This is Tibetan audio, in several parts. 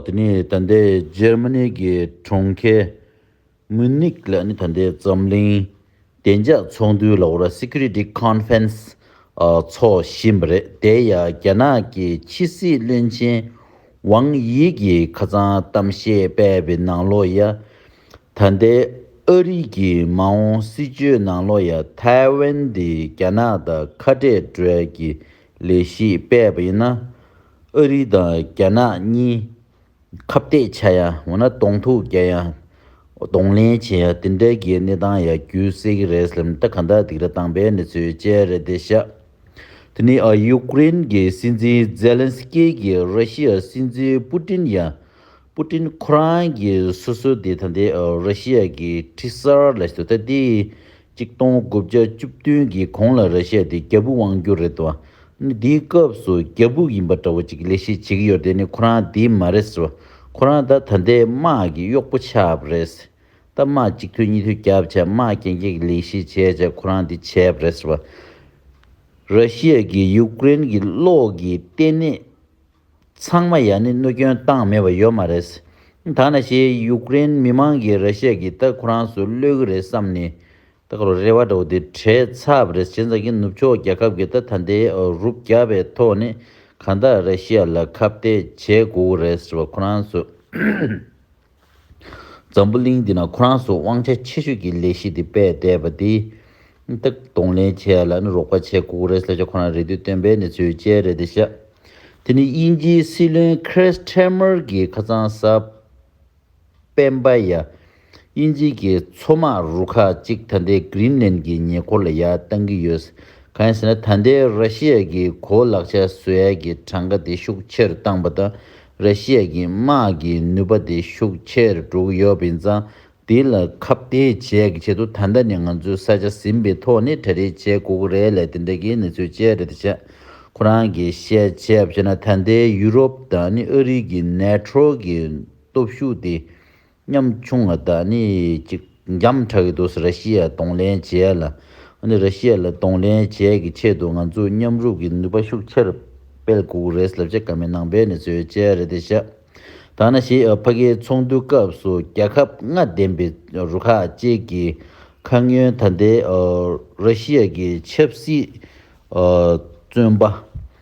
དེ་ནི་ད་ལྟའི་འཇར་མ་ནི་གི་གྲོང་ཁྱེར་མུན་ནིག་ལ་ནི་ད་ལྟའི་འཛམ་གླིང་བདེ་འཇགས་ཚོགས་འདུའི་ལ་ཨོ་ར Security Conference འཚོགས་བཞིན་པ་རེད་དེ་ཡང་རྒྱ་ནག་གི་ཕྱི་སྲིད་བློན་ཆེན་ཝང་དབྱི་གིས་ཁ་ཚང་གཏམ་བཤད་སྤེལ་བའི་ནང་ལོ་ཡ་ད་ལྟའི་ཨ་རི་གི་མ་འོངས་སྲིད་ཇུས་ནང་ལོ་ཡ་ཐའེ་ཝན་དེ་རྒྱ་ནག་དང་ཁ་འབྲལ་གྲོལ་གྱི་ལས་གཞི་སྤེལ་བ་ཡིན་ན་ཨ་རི་དང་རྒྱ་ནག་གཉིས་ཁ་བཏད་བྱ་ཡ་འོ་ན་གདོང་ཐུག་རྒྱག་ཡ་གདོང་ལེན་བྱེད་ཡ་དེ་འདྲ་གི་གནས་སྟངས་ཡ་རྒྱུ་སེ་གི་རེད་སླེམ་ད་ག་འདྲ་སྡིག་ར་བཏང་པའི་གནས་ཚུལ་བཅས་རེད་དེ་ཤ་དེ་ནི་ཡུ་ཀུ་རེན་གི་སྲིད་འཛིན་ཛེ་ལན་སི་ཀེ་གི་ར་ཤི་ཡ་སྲིད་འཛིན་པུ་ཏིན་ཡ་པུ་ཏིན་ཁོ་རང་གི་སོ་སོ་དེ་ད་ལྟའི་ར་ཤི་ཡ་གི་ཁྲི་གསར་ལ་ཞུ་ད་དེའི་གཅིག་སྟོང་དགུ་བརྒྱ་བཅུ་བདུན་གྱི་གོང་ལ་ར་ཤ་ཡ་དེ་རྒྱ་བུག་དབང་བསྒྱུར་རེད་བ། དེའི་སྐབས་སུ་རྒྱ་བུག་ཡིན་པ་འདྲ་བོ་ཅིག་ལས་ཤེས་བྱེད་ཀྱི་ཡོད་དེ་ནི་ཁོ་རང་དེ་མ་རེད་བ། ཁོ་རང་ད་ད་ལྟའི་དམག་གི་གཡོག་པོ་ཆགས་པ་རེད། ད་དམག་གཅིག་ཐོས་གཉིས་ཐོས་རྒྱབ་བྱས་དམག་རྐྱེན་རྐྱེན་གྱི་ལས་ཤེས་བྱས་བྱས་ཁོ་རང་དེ་བྱས་པ་རེད་བ། ར་ཤི་ཡ་གིས་ཡུཀ་རེན་གྱི་གློག་གི་ལྟེ་གནས། ཚང་མ་ཡང་ནི་གནོད་སྐྱོན་བཏང་མེད་པ་ཡོད་མ་རེད། ད་ནས་ཞེས་ཡུག་ཀེ་རེན་མི་མང་གིས་ར་ཤ་ཡའི་གི་སྟག་ཁོ་རང་སུ་གློད་གི་རེད་བསམ་ནས་སྟག་རོ་རེ་བ་འདྲ་བོ་དེ་བྲེལ་ཚབ་རེ་བྱེད་མཛད་ཀི་ནུབ་ཕྱོགས་རྒྱལ་ཁབ་གི་ད་ད་འདི་རུ་བརྒྱབ་པའི་ཐོག་ནས་གང་དག་ར་ཤ་ཡ་ལ་ཁ་བརྡས་བྱེད་དགོས་གི་རེད་ཟེར་བ་ཁོ་རང་སུ། འཛམ་བུ་གླིང་འདི་ན་ཁོ་རང་སོགས་དབང་ཆ་ཆེ་ཤོས་ཀྱི་ལས་གཞི་འདི་སྤེལ་བསྡད་པ་འདི། སྟག་གདོང་ལེན་བྱས་ལ་ནི་རོགས་པ་བྱེད་ཁུག་རེད་སླད་ཆ་ཁོ་རང་རེ་འདུས་སྟོན་པའི་ནི་ཚུལ་ཅལ་རེད་འདི་བཤད། དེ་ནི་དབྱིན་ཇིའི་སྲིད་བློན Keir Starmer གྱི་ཁ་ཚང་ས་པན་པ་ཡ། དབྱིན་ཇིའི་གི་མཚོ་དམག་རུ་ཁག་ཅིག་ད་ལྟའི Greenland གྱི་ཉེ་འཁོར་ལ་ཡར་བཏང་གི་ཡོད། གང་ཡིན་ཟེར་ན་ད་ལྟའི Russia གྱི་གོ་ལག་ཆ་བཟོས་ཡ་གྱི་གྲངས་ཀ་དེ་ཤུགས་ཆེར་བཏང་པ་དང་ར་ཤི་ཡ་གི་དམག་གི་ནུས་པ་དེ་ཤུགས་ཆེར་དྲུག་ཡོད་པས་ཙང་དེ་ལ་ཁ་བརྡའི་བྱས་ཀྱི་ཆེད་དུ་ད་ལྟ་ནས་ང་ཚོས་ས་ཆ་ཟིན་པའི་ཐོག་ནས་གྲ་སྒྲིག་བྱས་དགོས་ཀྱི་རེད་ལ་དེ་འདྲ་གི་གནས་ཚུལ་སྤྱད་རེད་བྱས། ཁོ་རང་གིས་བཤད་བྱས་བྱས་ན་ད་ལྟའི་ཡུ་རོབ་དང་ནི་ཨ་རིག་གི་ནེ་ཐྲོ་གི་སྟོབས་ཤུགས་དེ་ཉམ་ཆུང་བ་དག་ནི་གཅིག་འཇམ་འཁྲ་གི་འདུག་ཟེར་ར་ཤི་ཡ་གདོང་ལེན་བྱས་ལ་འདི་ར་ཤི་ཡ་ལ་གདོང་ལེན་བྱས་ཀྱི་ཆེད་དུ་ང་ཚོས་མཉམ་རུབ་ཀྱི་ནུས་པ་ཤུགས་ཆེར་སྤེལ་དགོས་རེད་ཟེར་ལབ་བྱ་ག་མེད་ནང་པའི་ནི་ཚོའི་དཔྱད་རེ་དེ་བཞག་ད་ན་ཞེས་ཕ་གིའི་ཚོགས་འདུའི་སྐབས་སུ་རྒྱ་ཁབ་ལྔ་ལྡན་པའི་རུ་ཁག་བཅས་ཀྱི་ཁ་སྔོན་ད་ལྟའི་ར་ཤི་ཡ་ཀྱི་ཆབ་སྲིད་བཙོན་པ།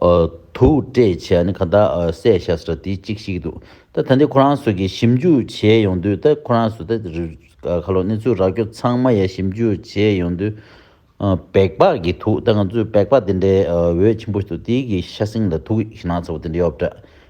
དུག་སྤྲད་བྱས་ནས་གང་དག་བསད་བྱ་སོགས་དེ་གཅིག་ཤིག་འདུག་ད་ད་འདི་ཁོ་རང་ཚོ་གིས་ཞིབ་འཇུག་བྱས་ཡོང་དུས་ད་ཁོ་རང་ཚོ་ད་ག་ལོ་གནས་ཚུལ་རག་རྒྱུ་ཚང་མ་ཡ་ཞིབ་འཇུག་བྱས་ཡོང་དུས་བེག་པག་གི་དུག་ད་ང་ཚོས་བེག་པག་དེ་འདྲའི་འོད་ཆེན་པོ་ཞིག་འདུག་དེའི་གི་ཤ་གསེང་ལ་དུག་ཞིག་ནག་ཚ་བོ་དེ་འདྲ་ཡོད་པ་འདྲ་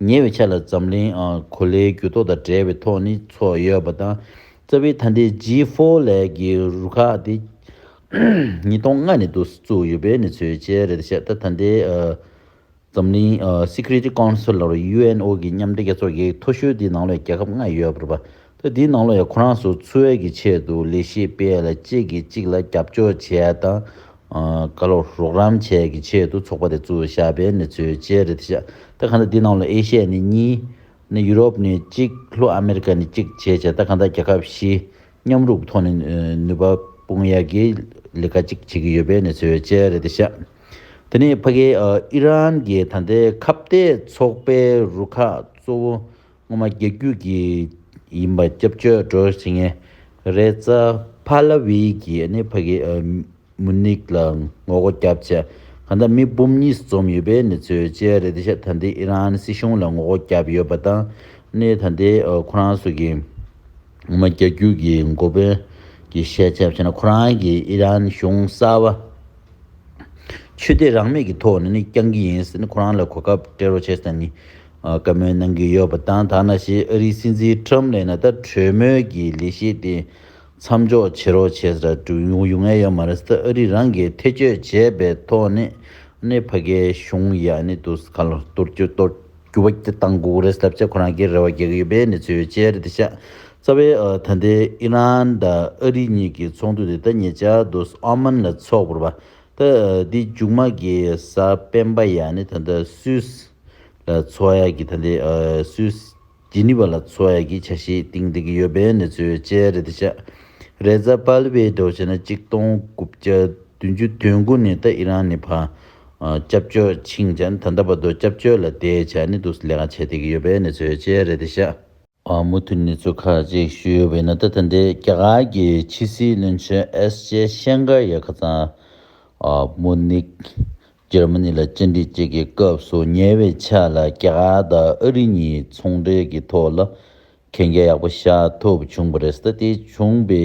ཉེ་བའི་ཆ་ལ་འཛམ་གླིང་གོ་ལའི་འགྱུར་ལྡོག་དང་བྲལ་བའི་ཐོག་ནས་ཚོགས་ཡོད་པ་དང། རྩ་བའི་ཐཱན་ཏའི G Four ལས་ཀྱི་རུ་ཁག་དེ་ཉིས་སྟོང་ལྔ་ནས་བཙུགས་ཡོད་པའི་གནས་ཚུལ་བཅས་རེད། ཆ་ད་ཐཱན་ཏའི་འཛམ་གླིང Security Council། UNO། གི་མཉམ་འབྲེལ་རྒྱལ་ཚོགས་ཀྱི་མཐོ་ཤོས་དེའི་ནང་ལོའི་རྒྱལ་ཁབ་ལྔ་ཡོད་པར། ཐེངས་འདིའི་ནང་ལོ་ཡང་ཁོ་རང་ཚོ་འཚོ་བའི་གི་ཆེད་དུ་ལས་གཞི་སྤེལ་ལ་གཅིག་གིས་གཅིག་ལ་རྒྱབ་སྐྱོར་བྱས་དང་ག་ལོ་རོགས་རམ་བྱས་གི་ཆེད་དུ་ཚོགས་པ་དེ་བཙུགས་བཞག་པའི་གནས་ཚུལ་བཅས་རེད་དེ་ད་ག་འདི་ནང་ལོ་ཨེ་ཤ་ཡ་ནི་གཉིས། ཡུ་རོབ་ནི་གཅིག་ལྷོ་ཨ་མེ་རི་ཀ་ནི་གཅིག་བྱས་བྱས་ད་ག་འདའ་རྒྱལ་ཁབ་བཞི་མཉམ་རུབ་ཐོག་ནས་ནུས་པ་སྤུངས་ཡ་གི་ལས་ཀ་གཅིག་བྱེད་གི་ཡོད་པའི་གནས་ཚུལ་བཅས་རེད་དེ་དེ་ནི་ཕ་གི་ཨི་རན་གི་ད་ལྟའི་ཁ་བརྡའི་ཚོགས་པའི་རུ་ཁག་གཙོ་བོ་སྔོན་མ་རྒྱ་རྒྱུད་ཀྱི་ཡིན་པ་སྐྱབས་བཅོལ་བགྲོ་ཟིན་ངས་རེད་རྩ་བྷ་ལ་བྷི་ཀྱི་ནི་ཕ་གི་མུ་ནིག་ལ་ངོ་རྒོ་རྒྱབ་ཆ་ག་འདྲ་མི་འབུམ་གཉིས་སུ་འཛོམས་ཡོད་པའི་ནི་ཚོས་བཅད་རེད་ཤ་ད་འདི་ཨི་རན་སྲིད་གཞུང་ལ་ངོ་རྒོ་རྒྱབ་ཡོད་པ་དང་ནི་ད་འདི་ཁོ་རང་སུ་གི་སྔོན་མ་རྒྱ་རྒྱུད་ཀྱི་འགོ་དཔོན་གྱི་བཤད་ཆ་བྱས་ན་ཁོ་རང་གི་ཨི་རན་གཞུང་གསར་བ་ཆོས་དད་རང་མེད་ཀྱི་ཐོག་ནི་ནི་རྐྱང་གི་ཡིན་ཟེར་ནི་ཁོ་རང་ལ་གོ་སྐབས་སྤྲད་རོགས་བྱས་ཟེར་ནི་བཀའ་མོལ་གནང་གི་ཡོད་པ་དང་ཐ་ན་ཞེས་ཨ་རིའི་སྲིད་འཛིན་ཁྲོམ་ལས་ན་ད་གྲོས་མོལ་གྱི་ལས་གཞི་དེ་མཚམས་འཇོག་བྱེད་རོགས་བྱས་ཟེར་ར་འབྲུ་ཡོང་ངེས་ཡོད་མ་རེད་ད་ཨ་རིས་རང་གིས་ཐེ་བྱུས་བྱས་པའི་ཐོག་ནས་ནས་ཕ་གའི་གཞུང་ཡ་ནི་དུ་ས་ཁ་ལོ་གཏོར་རྒྱུ་གཏོར་རྒྱུ་བ་ཀྱི་གཏང་དགོས་རེད་ཟེར་བྱས་ཁོ་རང་གིས་རེ་བ་རྒྱག་གི་ཡོད་པའི་གནས་ཚུལ་ཡོད་ཅེས་རེད་ད་ཤ་ཚ་བའི་ད་ལྟའི་ཨི་རན་ད་ཨ་རི་གཉིས་ཀྱི་ཚོགས་འདུ་དེ་ད་ཉེ་ཆར་དུ་ས་ཨོ་མན་ལ་ཚོགས་བོར་བ་ད་འདི་མཇུག་མ་གི་ས་སྤེན་པ་ཡ་ནི་ད་ད་སུས་ལ་འཚོ་བ་ཡག་གི་ཐ་དད་སུས་ཇི་ནི་བ་ལ་འཚོ་བ་ཡག་གི་ཆ་ཤས་སྟིང་སྡིག་ཡོད་པའི་གནས་ཚུལ་བཅས་རེད་དེ་ཤ་རེ་རྫ་དཔལ་བའི་འགྲོ་བྱེད་ན་གཅིག་སྟོང་དགུ་བརྒྱ་བདུན་ཅུ་དོན་དགུ་ནས་ད་ཨི་རང་ནི་བ་སྐྱབས་བཅོལ་ཕྱིན་ཅན་ད་ད་བ་དོ་སྐྱབས་བཅོལ་ལ་བསྡད་བྱ་ནི་འདུག་ལས་ཀ་བྱེད་སྡིག་ཡོད་པའི་གནས་ཚུལ་བཅས་རེད་དེ་ཤ། མུ་མཐུད་གནས་ཚུལ་ཁག་ཅིག་ཞུས་ཡོད་པ་ཡིན་ན་ད་ཐེངས་འདིར་རྒྱ་གར་གྱི་ཕྱི་སྲིད་བློན་ཆེན་ཨེས་ཇེ་ཤན་གྷར་ཡ་ཁ་ཚང། མུ་ནིག། འཇར་མ་ནི་ལ་བཅར་འདྲི་བཅས་ཀྱི་སྐབས་སུ་ཉེ་བའི་ཆ་ལ་རྒྱ་གར་དང་ཨ་རི་གཉིས་ཚོང་འབྲེལ་གྱི་ཐོག་ལ་གན་རྒྱ་ཡག་པོ་བཞག་ཐུབ་བྱུང་བ་རེད། ད་ལྟའི་བྱུང་བའི་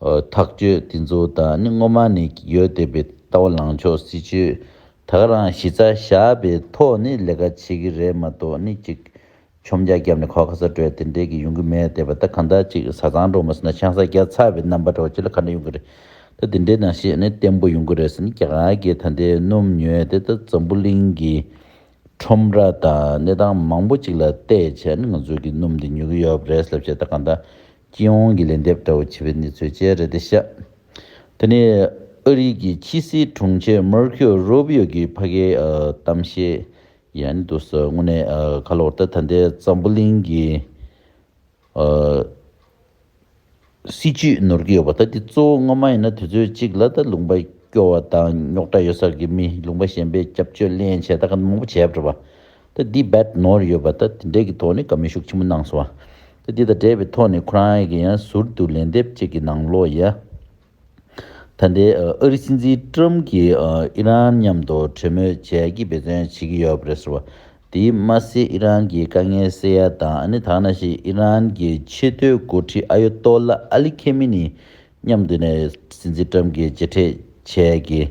ཐག་གཅོད་དེ་ཚོ་དང་ནི་སྔོན་མ་ནས་ཡོད་བསྡད་པའི་ལྟ་བ་ལངས་ཕྱོགས་སྲིད་ཇུས་དག་རང་གཞི་རྩ་བཞག་པའི་ཐོག་ནས་ལས་ཀ་བྱེད་ཀྱི་རེད་མ་གཏོགས་ནི་གཅིག་ཆོམ་རྒྱག་བརྒྱབ་ནས་ཁོག་ཁ་ས་བྲོས་དེ་འདྲས་ཀྱི་ཡོང་གི་མེད་བསྡད་པ་ད་གང་དག་ཅིག་བཟའ་ཚང་འགྲོ་མ་སོང་ན་ཆང་ས་རྒྱ་ཚ་བའི་རྣམ་པ་འགྲོ་ཁྱེད་ལ་ག་འདྲ་ཡོང་གི་རེད་ད་དེ་འདྲས་ན་ཤེས་ནི་བརྟན་པོ་ཡོང་གི་རེད་ཟེར་ནི་གྱ་གྱའི་ད་ལྟའི་སྣུམ་ཉོས་དེ་ད་འཛམ་བུ་གླིང་གི་ཁྲོམ་ར་དང་གནས་སྟངས་མང་པོ་ཅིག་ལ་བལྟས་བྱས་ནི་ང་ཚོ་གི་སྣུམ་འདི་ཉོ་གི་ཡོད་རེད་ལབ་བྱས་ད་གང་དག་སྤྱི་ཡོངས་ཀྱི་ལན་འདེབས་ལྟ་བུ་བྱེད་པའི་གནས་ཚུལ་བཅས་རེད་དེ། ཤ་ཏི་ནས་ཨ་རིའི་གི་ཁྱི་སི་དྲུང་ཆེ་མར་ཁིའོ་རུ་བྷི་ཡོ་གི་ཕ་གའི་གཏམ་བཤད་ཡང་ནི་འདུག་ཟེར་དངོས་གནས་ཁ་ལོ་ཏི་ད་ལྟའི་ཙམ་པོ་གླིང་གི་སྲིད་ཇུས་ནོར་གྱི་ཡོད་པ་ད་འདི་གཙོ་བོ་སྔོན་མ་ཡིན་ན་དུས་ཚོད་གཅིག་ལ་ད་ལུང་པ་སྐྱོ་བ་དང་རྙོག་དྲ་ཡོད་སར་གི་མི་ལུང་པ་གཞན་པའི་སྐྱབས་བཅོལ་གླན་བྱས་ད་ག་ནུ་མང་པོ་བྱས་པྲི་བ། ཏེ་འདི་རྦད་ནོར་ཡོད་པ་དང་དེ་འབྲེལ་གྱི་ཐོག་ནས་དགའ་མོས་ཤུགས་ཆེན་པོ་གནང་སོང་བ། ཏེ་འདི་དང་འབྲེལ་བའི་ཐོག་ནས་ཁོ་རང་གིས་ཡང་ཟུར་དུ་ལན་འདེབས་བཅས་ཀྱི་ནང་ལོགས་ཡ། ད་ལྟའི་ཨ་རིའི་སྲིད་འཛིན་ཀྲུམ་གྱིས་ཨི་རན་མཉམ་དུ་གྲོས་མོལ་བྱས་ཀྱིས་འབད་བརྩོན་བྱེད་ཀྱི་ཡོད་རེད་ཟེར་བ། དེས་མ་ཟད་ཨི་རན་གྱི་དཀའ་ངལ་སེལ་ཡ་དང་ཨ་ནེ་ཐང་ན་ཞིག་ཨི་རན་གྱི་ཆེས་མཐོའི་འགོ་ཁྲིད་ཨ་ཡོ་ཏོ་ལ་ཨ་ལི་ཁེ་མི་ནི་མཉམ་དུ་ནས་སྲིད་འཛིན་ཀྲུམ་གྱི་མཇལ་འཕྲད་བྱས་ཀྱིས།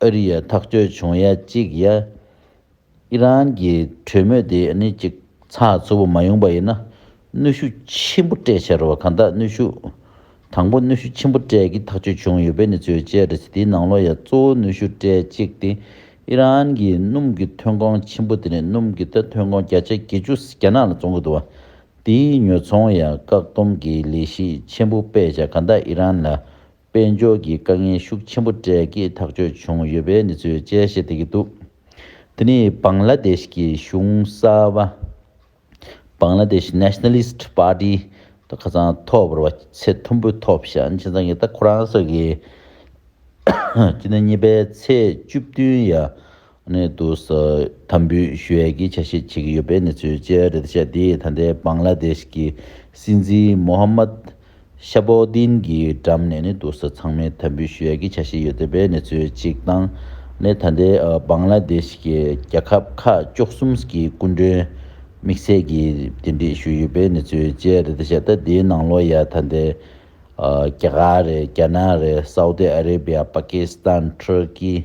ཨ་རི་ཡ་ཐག་གཅོད་བྱུང་ཡ་གཅིག་ཡ། ཨི་རན་གྱི་གྲོས་མོལ་དེ་ནི་ཅིག་ཚགས་ཚུད་པོ་མ་ཡོང་པ་ཡིན་ན་གནོད་ཤུགས་ཆེན་པོ་སྤྲད་ཕྱིར་རོ་གང་དག་གནོད་ཤུགས། དང་པོ་གནོད་ཤུགས་ཆེན་པོ་སྤྲད་ཀྱི་ཐག་གཅོད་བྱུང་ཡོད་པའི་གནས་ཚུལ་བཅས་རེད་ཚེ་དེའི་ནང་ལོ་ཡ་གཙོ་བོ་གནོད་ཤུགས་སྤྲད་གཅིག་སྟེ་ཨི་རན་གྱི་སྣུམ་གྱི་ཐོན་ཁོངས་ཆེན་པོ་དེ་ནི་སྣུམ་གྱི་ད་ཐོན་ཁོངས་བརྒྱ་ཆ་བརྒྱད་ཅུ་རྒྱ་ནག་ལ་བཙོང་གི་འདུག་བ་དེའི་ཉོ་ཚོང་ཡ་བཀག་སྡོམ་གྱི་ལས་གཞི་ཆེན་པོ་སྤེལ་བྱ་གང་དག་ཨི་རན་ལ་དཔལ་འབྱོར་གྱི་དཀའ་ངལ་ཤུགས་ཆེན་པོ་གྲལ་གྱིས་ཐག་གཅོད་བྱུང་ཡོད་པའི་གནས་ཚུལ་བཅས་བཤད་བསྡད་ཀྱི་འདུག་དེ་ནི་བཱང་ལ་དེཤ་གི་གཞུང་གསར་བ། Bangladesh Nationalist Party། དང་ཁ་ཚང་ཐོག་བར་བ་ཚད་མཐོན་པོའི་ཐོག་བཤད་ཕྱིན་ཚང་གིས་ད་ཁོ་རང་སོགས་ཀྱིས་སྤྱི་ཟླ་གཉིས་པའི་ཚེས་བཅུ་བདུན་ཡར་གནས་དུ་དམ་འབུལ་ཞུ་ཡས་ཀྱི་ཆ་ཤས་ཆེ་གི་ཡོད་པའི་གནས་ཚུལ་བཅས་རེད་ད་ཆ་དེའི་ད་ལྟའི་བང་ལ་དེཤ་གི་སྲིད་འཛིན་མོ་ཧ་མད་ཤ་བོ་དིན་གྱི་འགྲམ་ནས་གནས་དུ་ཚང་མའི་དམ་འབུལ་ཞུ་ཡས་ཀྱི་ཆ་ཤས་ཡོད་པའི་གནས་ཚུལ་གཅིག་དང་ནས་ད་ལྟའི་བང་ལ་དེཤ་གི་རྒྱལ་ཁབ་ཁག་བཅོ་གསུམ་གྱི་སྐུ་མགྲོན་དམིགས་བསལ་གྱི་འབྲེལ་འདྲིས་ཞུ་ཡོད་པའི་གནས་ཚུལ་བཅས་རེད་ད་ཆ་ད་དེའི་ནང་ལོ་ཡ་ད་ལྟའི་རྒྱ་གར་རེད་རྒྱ་ནག་རེད་སའུ་ཏི་ཨ་རེ་བྷི་ཡ་པ་ཀི་སི་ཐན་ཐུར་ཀི།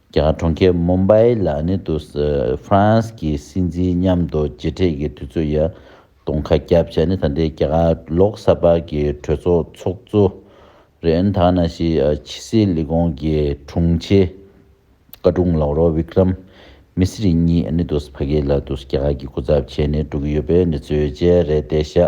ཀྱང་གྲོང་ཁྱེར Mumbai ལ་ནི་དུ France གྱི་སྲིད་འཛིན་མཉམ་དུ་མཇལ་འཕྲད་ཀྱི་དུས་ཚོད་ཡང་སྟོང་ཁ་རྒྱབ་བྱས་ནས་ད་ལྟའི་རྒྱ་གར་ལོག་གསར་པ་གྱི་གྲོས་ཚོགས་ཚོགས་གཙོ་རེན་དྷ་ན་ཤི་ཆི་སི་ལི་ཀོང་གི་དྲུང་ཆེ་བཀའ་དྲུང་ལག་རོགས Vikram Misri གཉིས་ནི་དུ་ཕ་གི་ལ་དུ་རྒྱ་གར་གྱི་སྐུ་ཚབ་བྱས་ནས་འགྲོ་གི་ཡོད་པའི་འབྲེལ་མཚོན་བཅས་རེད་བལྟས་ཤག།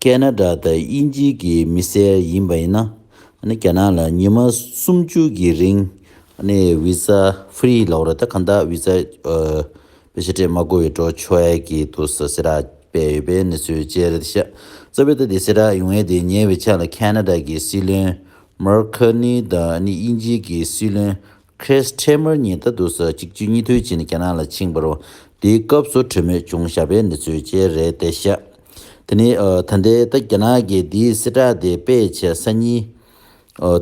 ཀན་ན་ཀྲ་དང་དབྱིན་ཇི་གི་མི་སེར་ཡིན་པ་ཡིན་ན་རྒྱ་ནག་ལ་ཉི་མ་སུམ་བཅུ་གི་རིང Visa Free ལོག་རེད་ད་གང་དག Visa པའི་ཤ་ཁྲེས་མ་བགོ་བའི་འགྲོ་ཆོ་ཡ་གི་འདུག་ས་སེ་ར་སྤེལ་ཡོད་པའི་གནས་ཚུལ་བཅས་རེད་ཤ་རྩ་བའི་ད་དེ་སེ་ར་ཡོང་ཡས་དེ་ཉེ་བའི་ཆ་ལ་ཀན་ན་ཀྲ་གི་སྲིད་བློན Mark Carney དང་དབྱིན་ཇི་གི་སྲིད་བློན་ཁྲེས་ཁྲེས་མོར་ཉིན་ལྟར་དུ་ས་གཅིག་ཆུ་གཉིས་ཐུལ་བྱས་ནས་རྒྱ་ནག་ལ་ཕྱིན་པར། དེའི་སྐབས་སུ་གྲོས་མོད་ཅུང་ཞར་པའི་གནས་ཚུལ་བཅས་རེད་དེ་བཤད། དེ་ནི་ད་ལྟའི་ད་རྒྱ་ནག་གི་དེའི་གསལ་བསྒྲགས་དེ་སྤེལ་བྱེད་ས་གཉིས།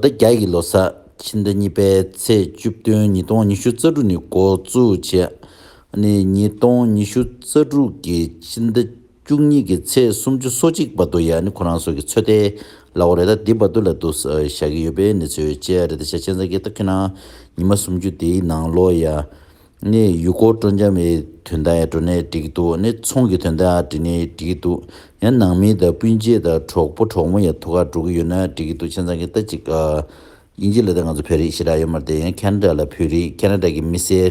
ད་རྒྱ་ཡི་ལོ་སར་ཕྱི་ཟླ་གཉིས་པའི་ཚེས་བཅུ་བདུན་ཉིས་སྟོང་ཉི་ཤུ་རྩ་དྲུག་ནས་འགོ་བཙུགས། བྱས་ནས་ཉིས་སྟོང་ཉི་ཤུ་རྩ་དྲུག་གི་ཕྱི་ཟླ། བཅུ་གཉིས་ཀྱི་ཚེས་སུམ་ཅུ་སོ་གཅིག་བར་དུ་ཡང་ནི་ཁོ་རང་སོགས་ཀྱི་ཚོད་ལྟའི་གླ་བོ་རེ་ད་ལྡི་བར་དུ་ལ་བསྡུ་བཞག་གི་ཡོད་པའི་གནས་ཚུལ་བཅས་རེ་ད་ཆ་ཆན་ཚང་གིས་ཏག་ཁྱོད་རང་ཉི་མ་སུམ་ཅུ་དེའི་ནང་ལོག་ཡ། ནས་ཡུལ་སྐོར་སྤྲོ་འཆམ་བའི་དོན་དག་ཡང་འགྲོ་ནས་འགྲིག་གི་འདུག་ནས་ཚོང་གི་དོན་དག་ཡང་འགྲིག་ནས་འགྲིག་གི་འདུག་ཡང་ནང་མི་དང་སྤུན་མཆེད་དང་གྲོགས་པོ་གྲོགས་མོ་ཡང་ཐུགས་ཁག་འགྲོ་གི་ཡོད་ན་འགྲིག་གི་འདུག་ཆན་ཚང་གིས་ད་ཅིག་དབྱིན་ཇི་ལ་ད་ང་ཚོ་བོད་རིགས་ཞེ་དྲག་ཡོད་མ་རེད་ད་ཡང་ཁ་ན་དྲ་ལ་བོད་རིགས་ཁ་ན་དྲ་གི་མི་སེར་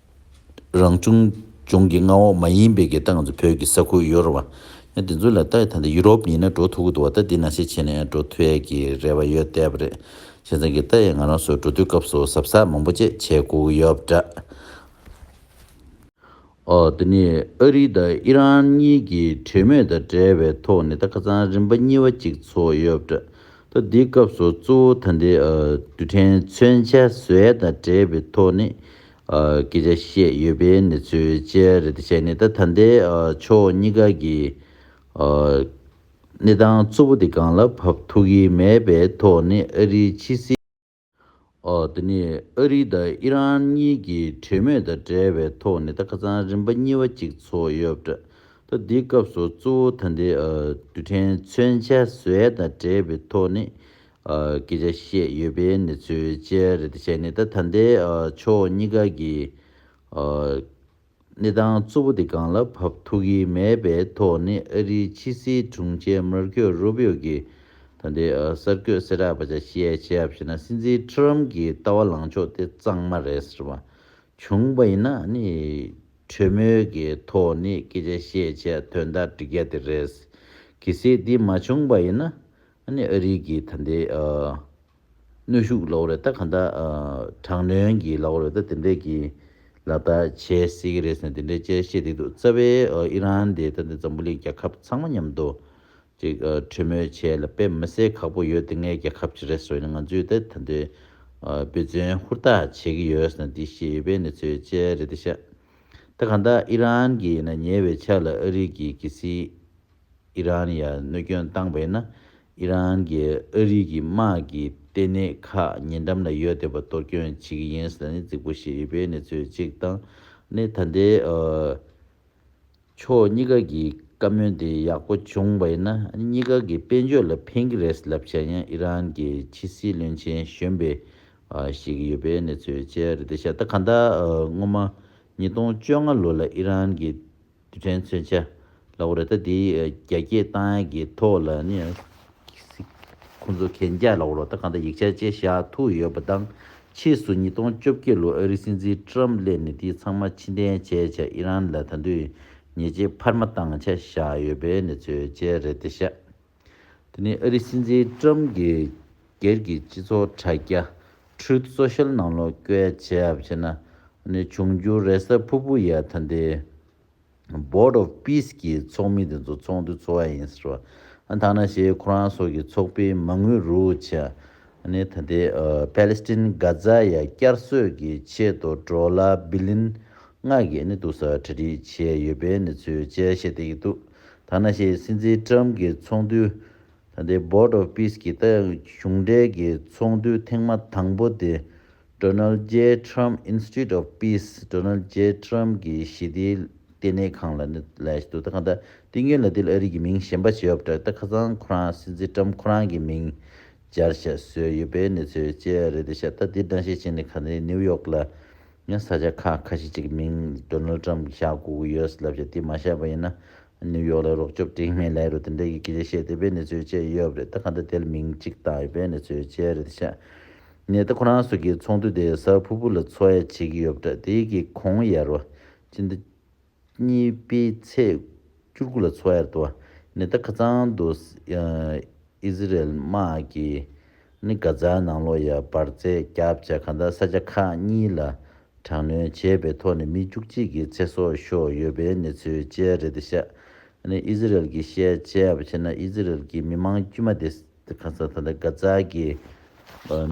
རང་བྱུང་ལྗོངས་ཀྱི་མངའ་འོག་མ་ཡིན་པའི་གི་ཏང་ཚོ་བོད་ཀྱི་ས་ཁུལ་ཡོ་རོབ་བ། དེ་ཚོ་ལ་ལྟ་ད་ཡུ་རོབ་ཡིན་ན་འགྲོ་ཐུ་གུ་འདུག་བ་ད་འདི་ན་ཤས་ཆེ་ནས་འགྲོ་ཐུ་ཡས་ཀྱི་རེ་བ་ཡོད་བསྡད་པ་རེད་བྱས་ཙང་གི་ད་ཡས་ང་རང་སོ་འགྲོ་དུས་སྐབས་སུ་ཟབ་ས་མང་པོ་བཅས་བྱས་སྒུག་གི་ཡོད་པ་འདྲ། འོ་དེ་ནས་ཨ་རི་དང་ཨི་རན་གཉིས་ཀྱི་གྲོས་མོས་དང་འབྲེལ་བའི་ཐོག་ནས་ད་ཁ་ཚང་རིམ་པ་གཉིས་བ་གཅིག་ཚོགས་ཡོད་པ་འདྲ་ད་འདི་སྐབས་སུ་གཙོ་བོ་ད་འདི་རྡུལ་ཕྲན་མཚོན་ཆ་བཟོས་ཡས་དང་འབྲེལ་བའི་ཐོག་ནས། སྐད་ཆ་བཤད་ཡོད་པའི་གནས་ཚུལ་བཅས་རེད་དེ་བྱས་ནས་ད་ད་ལྟའི་ཕྱོགས་གཉིས་ཀ་གི་གནས་སྟངས་གཙོ་བོ་དེ་གང་ལ་བབས་ཐུག་གི་མེད་པའི་ཐོག་ནས་ཨ་རིའི་ཕྱི་སྲིད། དེ་ནི་ཨ་རི་དང་ཨི་རན་གཉིས་ཀྱི་གྲོས་མོས་དང་འབྲེལ་བའི་ཐོག་ནས་ད་ཁ་ཚང་རིམ་པ་གཉིས་བ་གཅིག་ཚོགས་ཡོད་པ་འདྲ་ད་འདིའི་སྐབས་སུ་གཙོ་བོ་ད་ལྟའི་རྡུལ་ཕྲན་མཚོན་ཆ་བཟོས་དང་འབྲེལ་བའི་ཐོག་ནས་སྐད་ཆ་བཤད་ཡོད་པའི་གནས་ཚུལ་བཅས་རེ་ད་བྱས་ནས་ད་ད་ལྟའི་ཕྱོགས་གཉིས་ཀ་གི་གནས་སྟངས་གཙོ་བོ་དེ་གང་ལ་བབ་ཐུག་གི་མེད་པའི་ཐོག་ནས་ཨ་རིའི་ཕྱི་སྲིད་དྲུང་ཆེ་མར་ཁེའོ་རུ་བྷི་ཡོ་གིས་ད་ལྟའི་གསར་འགོད་གསལ་བསྒྲགས་པ་ཆ་ཤས་བྱས་པ་ཞིག་ན་སྲིད་འཛིན་ཁྲི་རམ་གྱི་ལྟ་བ་ལངས་ཕྱོགས་དེ་གཙང་མ་རེད་ཟེར་བ་བྱུང་བ་ཡིན་ན་ནི་གྲོས་མོལ་གྱི་ཐོག་ནས་སྐད་ཆ་བཤད་བྱས་དོན་དག་འགྲིག་རྒྱ་དེ་རེད་གི་སྲིད་དེ་མ་བྱུང་བ་ཡིན་ན་ཨ་ནི་ཨ་རིག་གི་ད་ལྟའི་གནོད་ཤུགས་ལོག་རེད་ད་ག་འདྲ་དྲག་གནོན་གྱི་ལོག་རེད་ད་དེ་འདྲས་ཀྱི་ལ་ད་བྱེད་སྲིད་ཀྱི་རེད་ཟེར་ནས་དེ་འདྲས་དཔྱད་བཤད་བསྡིགས་འདུག་རྩ་བའི་ཨི་རན་དེ་ད་ནི་འཛམ་བུ་གླིང་རྒྱལ་ཁབ་ཚང་མ་མཉམ་དུ་ཅིག་གྲོས་མོལ་བྱས་ལ་དཔེ་མི་སེར་ཁག་པོ་ཡོད་དེ་ངའི་རྒྱལ་ཁབ་ཅིག་རེད་བཟོ་ཡིན་ང་ཚོས་ད་ད་འདྲའི་འབོད་བརྩོན་ཧུར་ཐག་བྱེད་ཀྱི་ཡོད་ཟེར་ན་འདི་ཤེས་ཡོད་པའི་ནི་ཚོའི་དཔྱད་རེད་ད་ཤ་ད་ག་འདྲ་ཨི་རན་གྱི་ན་ཉེ་བའི་ཆ་ལ་ཨ་རིག་གི་གི་སྲིད། ཨི་རན་ཡར་གནོད་སྐྱོན་བཏང་བས་ན་ཨི་རན་གྱིས་ཨ་རི་གི་དམག་གི་ལྟེ་གནས་ཁག་ཉེ་འགྲམ་ལ་ཡོད་འདོད་པ་གཏོར་སྐྱོན་བྱེད་ཀྱི་ཡིན་ཟེར་ནས་རྫིག་པོ་བཤད་ཡོད་པའི་གནས་ཚུལ་གཅིག་དང། ནི་ད་ལྟའི་ཕྱོགས་གཉིས་ཀ་གི་བཀའ་མོལ་དེ་ཡག་པོ་བྱུང་བས་ན་ནི་གཉིས་ཀ་གི་དཔལ་འབྱོར་ལ་ཕན་གྱི་རེད་ལབ་བྱ་ཡང་ཨི་རན་གྱི་ཕྱི་སྲིད་བློན་ཆེན་གཞོན་པས་བཤད་ཀྱི་ཡོད་པའི་གནས་ཚུལ་བཅས་རེད་དེ་ཤ་སྟག་གང་ལྟར་སྔོན་མ་ཉིས་སྟོང་བཅོ་ལྔ་ལོ་ལ་ཨི་རན་གྱི་རྡུལ་ཕྲན་མཚོན་ཆ་ལ་བོར་ད་དེ་རྒྱ་སྐྱེད་སྟངས་ཀྱི་ཐོག་ལ་ནི་ཁོང་ཚོ་གན་རྒྱ་ལ་བོར་བ་དང་གང་ལྟར་ཡིག་ཆ་བཅས་བཞག་ཐུག་ཡོད་པ་དང་ཕྱིས་སུ་ཉིས་སྟོང་བཅོ་བརྒྱད་ལོར་ཨ་རིའི་སྲིད་འཛིན་ཀྲམ་བསླེབས་ནས་དེ་ཚང་མ་ཕྱི་འཐེན་བྱས་ཆ་ཨི་རན་ལ་ད་དུས་ཉེས་ཆད་འཕར་མ་བཏང་ཆ་བཞག་ཡོད་པའི་གནས་ཚུལ་བཅས་རེད་དེ་ཤ། དེ་ནི་ཨ་རིའི་སྲིད་འཛིན་ཀྲུམ་གྱིས་སྒེར་གྱི་སྤྱི་ཚོགས་དྲ་རྒྱ Truth Social ནང་ལོག་བཀལ་བྱས་ཡབ་བྱས་ན་འབྱུང་འགྱུར་རེ་ས་ཕུར་བུ་ཡ་ད་འདི Board of Peace གྱི་ཚོགས་མི་དེ་ཚོ་ཚོགས་འདུ་ཚོགས་ཡ་ཡིན་ཟེར་བ་ད་ན་ཞེས་ཁོ་རང་སོགས་ཀྱི་ཚོགས་པའི་མ་དངུལ་རུ་བྱས་ནས་ད་ལྟའི་པཱ་ལེ་སི་ཏིན་གྷ་ཛ་ཡ་བསྐྱར་གསོས་ཀྱི་ཆེད་དུ་འགྲོ་ལ་བི་ལིན་མངགས་ཀྱི་གནས་འདུག་ས་གྲ་སྒྲིག་བྱས་ཡོད་པའི་གནས་ཚུལ་བཅས་བཤད་བསྡད་ཀྱི་འདུག་ཐ་ན་ཤའི་སྲིད་འཛིན་ཀྲམ་གྱི་ཚོགས་འདུ། ད་ལྟའི Board of Peace གྱི་ཏཱ་གཞུང་འབྲེལ་གྱི་ཚོགས་འདུ་ཐེངས་མ་དང་པོ་དེ Donald J Trump Institute of Peace Donald J Trump གྱི་ཞི་བདེའི་ལྟེ་གནས་ཁང་ལ་གནས་ལ་ཞུ་དུས་ད་ག་ད་ཏིང་ཡོན་ལ་ཏིལ་ཨ་རིག་གི་མིང་གཞན་པ་བྱས་ཡོད་པ་འདྲ་སྟེ་ད་ཁ་སང་ཁོ་རང་སྲིད་འཛིན་ཀྲམ་ཁོ་རང་གི་མིང་བསྐྱར་བཤད་སྲོལ་ཡོད་པའི་གནས་ཚུལ་བཅས་རེད་དེ་ཤ་སྟག་དེའི་སྒྲ་བཤད་ཅན་ནི་ག་ནི་ནིའུ་ཡོག་ལ་ཡང་ས་ཆ་ཁག་ཁ་ཤས་ཅིག་གི་མིང Donald Trump གིས་བཞག་གོ་གི་ཡོད་ཟེར་ལབ་བཤད་དེ་མ་བཤད་པ་ཡིན་ན་ནིའུ་ཡོག་ལ་རོགས་སྐྱོབ་དྲིན་མེད་ལས་རོ་དེ་འདྲས་ཀྱི་གི་རེ་བཤད་དེ་པའི་གནས་ཚུལ་བཅས་ཡོད་པ་རེད་ད་ག་འདྲ་དེ་ལ་མིང་གཅིག་བཏགས་ཡོད་པའི་གནས་ཚུལ་བཅས་རེད་དེ་ཤ་ནས་ད་ཁོ་རང་ཚོ་གི་ཚོགས་འདུ་དེ་ས་ཕུ་ཕུ་ལ་འཚོ་ཡ་བྱེད་ཀྱི་ཡོད་པ་འདྲ་དེ་གི་གོང་ཡར་བ་ཅི་འདྲ་གཉིས་པའི་ཚེས་བཅུ་དགུ་ལ་ཚོ་ཨེར་ཏོ་ནེ་ཏ་ཁ་ཚང་དུ་ཨི་ཟི་རལ་དམག་གིས་ནི་གྷ་ཛའི་ནང་ལོགས་ཡ་བར་བརྩད་བརྒྱབ་བྱས་ག་ད་ས་ཆ་ཁག་གཉིས་ལ་དྲག་གནོན་བྱས་པའི་ཐོག་ནས་མི་བཅུ་གཅིག་གི་ཚེ་སྲོག་ཤོར་ཡོད་པའི་གནས་ཚུལ་བཅས་རེད་དེ་ཤ་ནི་ཨི་ཟི་རལ་གྱི་ཤེས་བྱས་པ་ཕྱིར་ན་ཨི་ཟི་རལ་གྱི་མི་མང་དཀྱུས་མ་དེ་ད་ག་ད་གྷ་ཛའི་གི་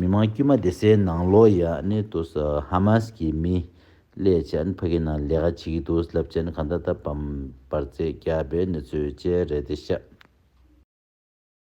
མི་མང་དཀྱུས་མ་དེ་སའི་ནང་ལོགས་ཡ་ནི་ཏོ་ཧ་མཱས་ཀྱི་མི་སླད་ཕྱིན་ཕ་གི་ནང་ལས་ཀ་བྱེད་ཀྱི་འདུག་རླབས་ཆེན་གང་འདྲ་ད་བམ་པར་རྩེད་རྒྱག་པའི་གནས་ཚུལ་བཅས་རེད་དེ་ཤག།